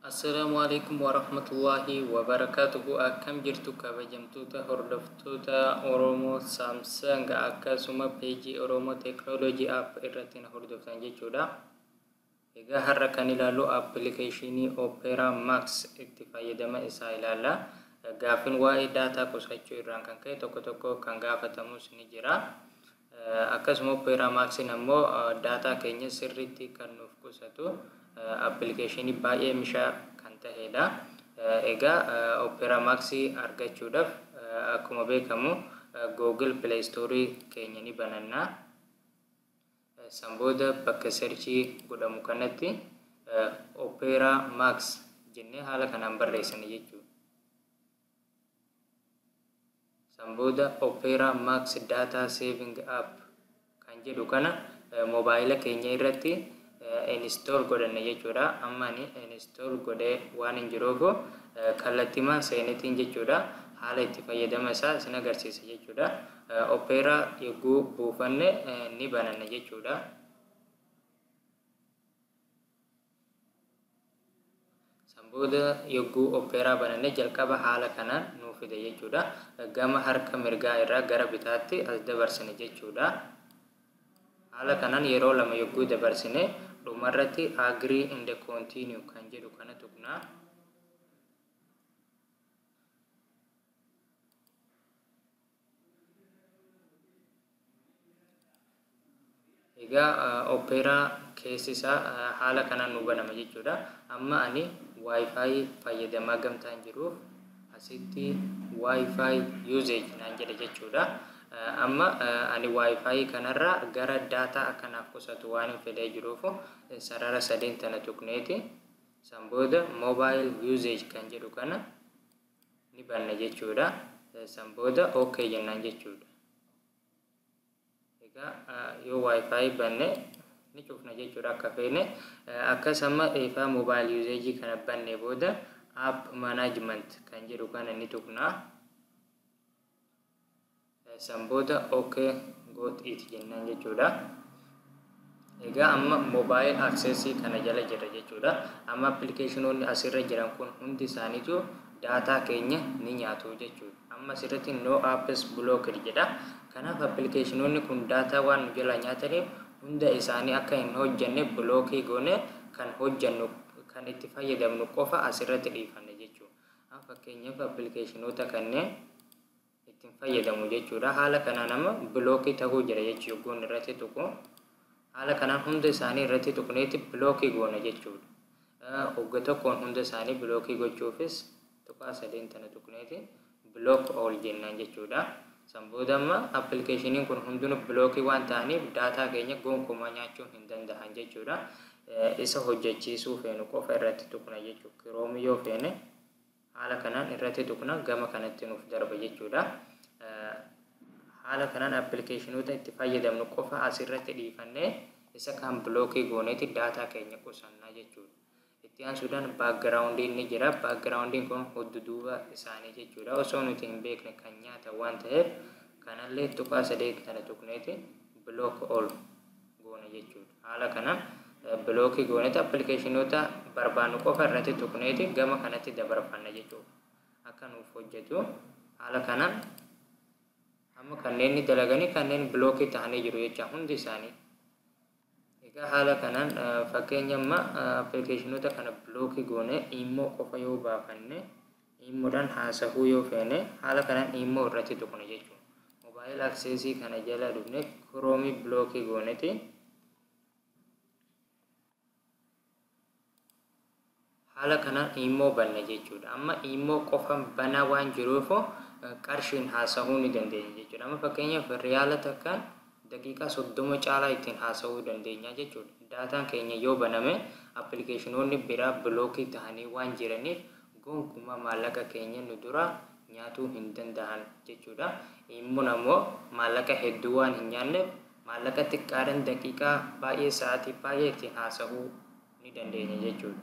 Assalaamu alaikum warahmatullaahi wabarakaatuhu akkam jirtu kabajamtoota hordoftoota Oromoo Samsung akkasuma peejii Oromoo Technology App irratti na hordoftan jechuudha. Egaa har'a kan ilaallu appilikeeshinii Opera Max itti fayyadama isaa ilaalla. Gaaffiin waa'ee daataa qusachuu irraan kan ka'e tokko tokko kan gaafatamus ni jira. Akkasuma Opera Max'n ammoo daataa keenya sirriitti kan nuuf qusatu appilikeeshinii baay'ee mishaa kan taheedha. Egaa Opera Max argachuudhaf akkuma beekamu Google Play Store keenya ni bananna. San booda bakka serchii godhamu kanatti Opera Max jennee haala kanaan barreessina jechuudha. San booda Opera Max Data Saving App kan jedhu kana mobaayila keenya irratti install godhanna jechuudha. Amma ani install godhee waan hin jiruuf kallattimaan seenetiin jechuudha haala itti fayyadama isaa isin agarsiisa jechuudha. Opera yogguu buufanne ni bananna jechuudha. San booda yogguu opera bananne jalqaba haala kanaan nuu fida jechuudha. Gama harka mirgaa irraa gara bitaatti as dabarsina jechuudha. Haala kanaan yeroo lama yogguu dabarsine dhumarratti agree and continue kan jedhu kana tuqna. Egaa Opera keessi isaa haala kanaan nu banama jechuudha. Amma ani Wi-Fi fayyadamaa gamtaan jiruuf asitti Wi-Fi usage naan jedha jechuudha. Amma ani Wi-Fi kanarraa gara daataa akka naaf qusatu waan hin fedhee jiruuf sarara sadeen tana tuqneeti. San booda mobile usage kan jedhu kana ni banna jechuudha. San booda OK jennaan jechuudha. Egaa yoo wifi banne ni cufna jechuudha akka feene. Akkas amma eefaa mobile usage kana banne booda app management kan jedhu kana ni tuqna. San booda OK got it jennaan jechuudha. Egaa amma mobile access kana jala jirra jechuudha. Amma appilikeeshinoonni asirra jiran kun hundi isaaniitu daataa keenya ni nyaatu jechuudha. Amma asirratti no apps blocked jedha. Kanaaf appilikeeshinoonni kun daataa waan nu jalaa nyaataniif hunda isaanii akka hin hojjenne bilookii goone kan hojjennu kan itti fayyadamnu qofa asirratti dhiifanna jechuudha. An fakkeenyaaf appilikeeshinoota kanneen ittiin fayyadamu jechuudha. Haala kanaan amma bilookii ta'uu jira jechuu yogguun irratti tuqu. Haala kanaan hunda isaanii irratti tuqneeti bilookii goona jechuudha. Ogga tokkoon hunda isaanii bilookii gochuufis tuqaa sadeen tana tuqneeti bilook ool jennaan jechuudha. San booda amma appilikeeshiniin kun hundinuu bilookii waan ta'aniif daataa keenya gonkumaa nyaachuu hin dandahan jechuudha. Isa hojjachiisuu feenu qofa irratti tuqna jechuudha. Kiroomi yoo feene haala kanaan irratti tuqna gama kanatti nuuf darba jechuudha. Haala kanaan appilikeeshinoota itti fayyadamnu qofa asirratti dhiifannee isa kaan bilookii gooneeti daataa keenya qusanna jechuudha. Itti aansuudhaan background'n ni jira. Background'n kun hudduduuba isaanii jechuudha. Osoo nuti hin beekne kan nyaatan waan ta'eef kanallee tuqaa sadeet kana tuqneeti block all goona jechuudha. Haala kanaan bilookii gooneeti appilikeeshinoota barbaannu qofa irratti tuqneeti gama kanatti dabarfanna jechuudha. Akka nuuf hojjetu haala kanaan amma kanneen ni dalaganii kanneen bilookii tahanii jiru jecha hundi isaanii. Egaa haala kanaan fakkeenya amma applicationota kana block goone imo qofa yoo baafanne imo dhan haasahuu yoo feene haala kanaan imo irratti tuqna jechuun mobile access kana jala dhufne chrome block gooneti haala kanaan iimmoo banna jechuudha. Amma iimmoo qofan banaa waan jiruuf qarshiin haasahuu ni dandeenya jechuudha. Amma fakkeenyaaf riyaala takkaan daqiiqaa soddoma caalaa ittiin haasahuu dandeenya jechuudha. Daataan keenya yoo baname appilikeeshinoonni biraa bilookii tahanii waan jiraniif gonkumaa maallaqa keenya nu duraa nyaatuu hin danda'an jechuudha. Iimmoon ammoo maallaqa hedduu waan hin nyaanneef maallaqa xiqqaadhan daqiiqaa baay'ee sa'aatii baay'ee ittiin haasa'uu ni dandeenya jechuudha.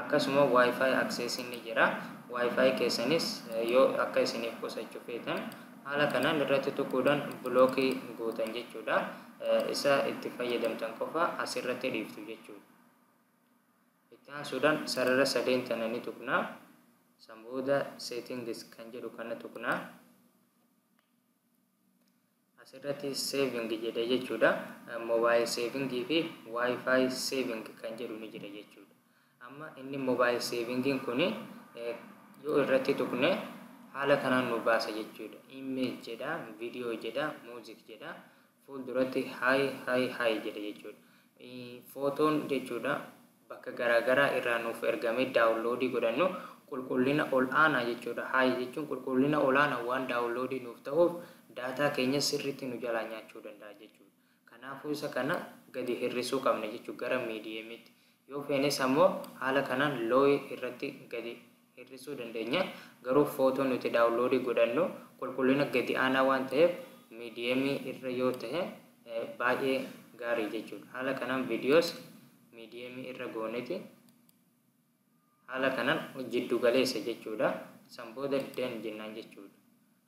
Akkasuma Wi-Fi access ni jira. Wi-Fi keessanis yoo akka isiniif qusachu feetan haala kanaan irratti tuquudhan blockii gootan jechuudha. Isa itti fayyadamtan qofa asirratti dhiiftu jechuudha. Itti aansuudhan sarara sadeen tana ni tuqna. San booda settings kan jedhu kana tuqna. Asirratti saving jedhe jechuudha. Mobile saving fi wifi saving kan jedhu ni jira jechuudha. Amma inni mobile savingin kun yoo irratti tuqne haala kanaan nu baasa jechuudha. Image jedha, video jedha, music jedha. Fuulduratti hi hi hi jedha jechuudha. Footoon jechuudha. bakka garaa garaa irraa nuuf ergamee daawunloodii godhannu qulqullina ol aanaa jechuudha. High jechuun qulqullina olaanaan waan daawunloodii nuuf tahuuf daataa keenya sirriitti nu jalaa nyaachuu danda'a jechuudha. Kanaafuu isa kana gadi hir'isuu qabna jechuudha gara medium tti. Yoo feenes ammoo haala kanaan low irratti gadi hir'isuu dandeenya. Garuu footoo nuti daawunloodii godhannu qulqullina gadi aanaa waan taheef miidiyeemii irra yoo tahe baay'ee gaarii jechuudha. Haala kanaan viidiyoos miidiyeemii irra gooneti haala kanaan jiddu galeessa jechuudha. San booda den jennaan jechuudha.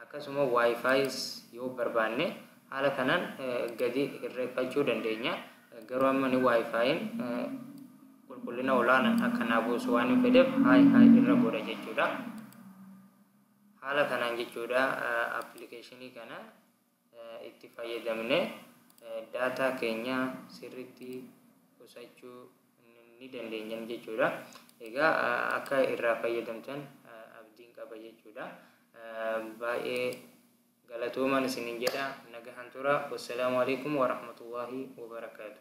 Akkasuma Wi-Fi's yoo barbaanne haala kanaan gadi hirreeffachuu dandeenya. Garuu amma ni Wi-Fi'n qulqullina olaanaan akka naa buusu waan hin fedheef High High irra godha jechuudha. Haala kanaan jechuudha appilikeeshinii kana itti fayyadamnee daataa keenya sirriitti qusachuu ni dandeenyam jechuudha. Egaa akka irraa fayyadamtan abdiin qaba jechuudha. Baay'ee galatoomaan isinin jedha nagahan tura. Wassalaamu alaikum warahmatullaahi wabarakaatu.